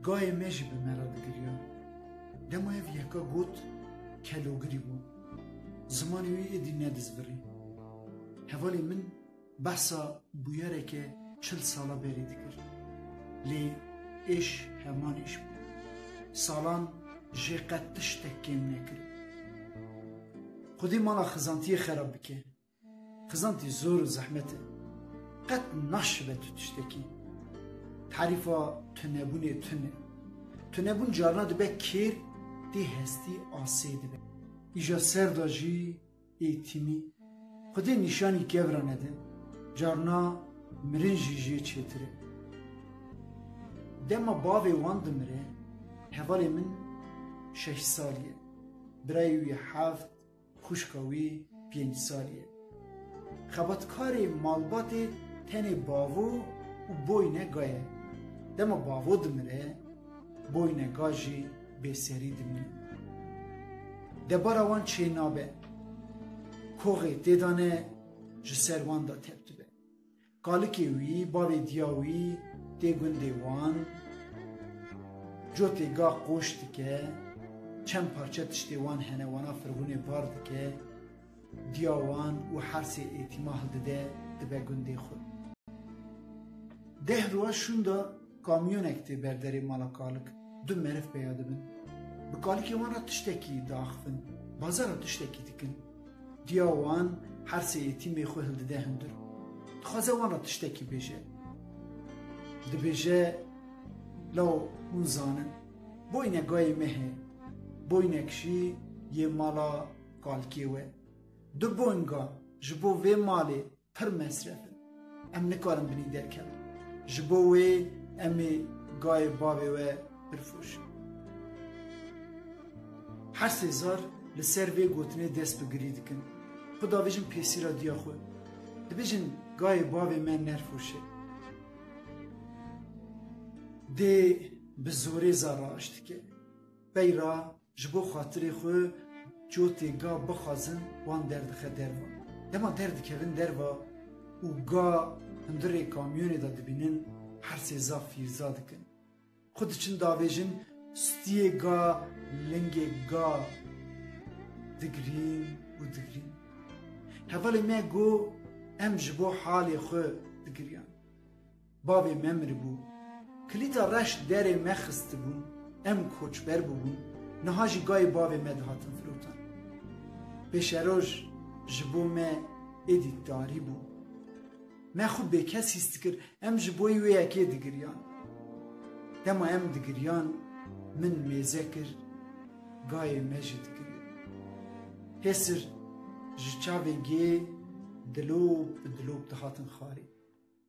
Gayê me jî bi me re digiriya. Dema ev yeka got kelogirî bû. Zimanê wî êdî nedizbirî. Hevalê min behsa bûyereke çil sala berî dikir. Lê êş heman êş bû. Salan jê qet tiştek kêm nekir. Xwedî mala xizantiyê xerab bike. Xizantî zor û zehmet e. Qet naşibe tu tiştekî. Tarîfa tunebûnê tun e. Tunebûn carna dibe kêr tê hestî asê dibe. Îja ser de jî ê tîmî xwedê nîşanî kevra nede, carna mirin jî jê çêtir e. Dema bavê wan dimire, hevalê min şeş salî ye. Birayê wî heft, Xwişka wî pênc salî ye. Xebatkarê malbatê tenê bavo û boyne ga ye. Dema bavo dimire, boyne ga jî bêserî dimîne. Debara wan çê nabe. Koxê têdane ji ser wan de tep dibe. Kalikê wî, bavê diya wî tê gundê wan, cotê ga qoş dike, çend parçe tiştê wan hene wana firvûnê var dike, diya wan û hersê êtîma hildide dibe gundê xwe. Deh roj şûnda kamyonek tê ber derê mala kalik, du meriv peya dibin, bi kalikê wan re tiştekî diaxivin, bazara tiştekî dikin. Diya wan her sê yetîmê xwe hildide hundir û dixwaze wan re tiştekî bêje. Dibêje law hûn zanin boynek gayê me heye, boynek jî yê mala Kalkê we. Du boynga ji bo vê malê Pir mesref in. Em nikarin binî derkevin. Ji bo wê em ê gayê bavê we birfroşin. Her sê zar li ser vê gotinê dest bi girî dikin. Xwe davêjin pêsîra diya xwe. Dibêjin gayê bavê me nerfroşe. Dê bi zorê zar raş dike. Beyra Ji bo xatirê xwe cotê ga bixwazin wan derdixe derva. Dema derdikevin derva û ga hundirê kamyonê de dibînin hersê zaf fîrza dikin. Xwe diçin davêjin stiyê ga lingê ga digrîn û digrîn. Hevalê me got em ji bo halê xwe digiriyan. Bavê me miribû. Kilîta reş derê me xistibûn, em koçber bûbûn, niha jî gayê bavê me dihatin firotan. Pêşeroj ji bo me êdî tarî bû. Me xwe bêkes hîs dikir, em ji bo wê yekê digiriyan. Dema em digiriyan, min mêze kir, gayê me jî dikiriye. Pêsir ji çavê gê dilop bi dilop dihatin xwarê.